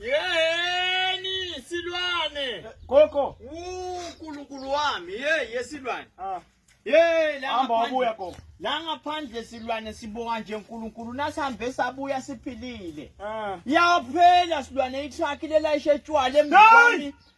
Yeheni silwane. Gogo. Unkulunkulu wami hey yesilwane. Ah. Hey la hamba wabuya gogo. La ngaphandle silwane sibonga nje uNkulunkulu nasihambe sabuya siphilile. Ah. Yaphela silwane itruck lelayishe tshwala emzini.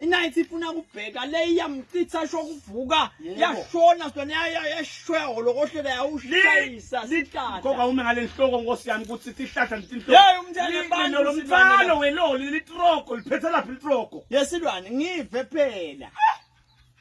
inayithi ifuna ukubheka le iyamchitha sho kuvuka yashona sona yashwela holokohlela yawushayisa sihlahla ngoba ume ngale nhloko nkosi yami ukuthi sihlahla ntinhloko hey umntana abantu lo mfana weloli litroko liphethe laphi litroko yesilwane ngive phela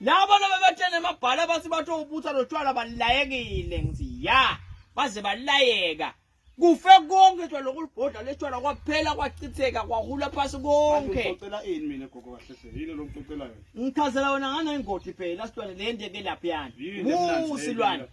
Labo nabebetshena emabhala abathi bathe ubutha lotshwala balayekile ngithi ya baze balayeka kufe konke nje lokulibhodla letshwala kwaphela kwachitheka kwahula phasi konke ngicela ini mina gogo kahle hle yini lo mcocelayo ngichazela wena ngana ingodi phela silwane lende ke lapha yani usilwane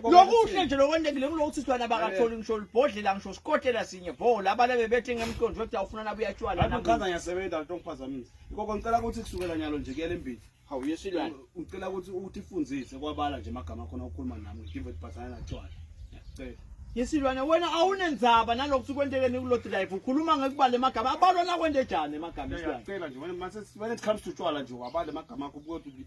lokuhle nje lokwentekile kulokuthi sibana bakatholi ngisho libhodlela ngisho sikotela sinye bo laba lebe bethi ngemqondo ukuthi awufuna nabe uyatshwala nami ngichaza ngiyasebenza lento ngiphazamisa ikoko ngicela ukuthi kusukela nyalo nje kuyele embili hawu yesilwane ngicela ukuthi uthi fundise kwabala nje amagama khona ukukhuluma nami ngidive ukuthi bhathana natshwala ngiyacela yesilwane wena awunenzaba nalokhu sikwentekeni kulo drive ukhuluma ngekubala emagama abalwa nakwente njani emagama yesilwane ngiyacela nje wena mase when it comes to tshwala nje wabala emagama akho ukuthi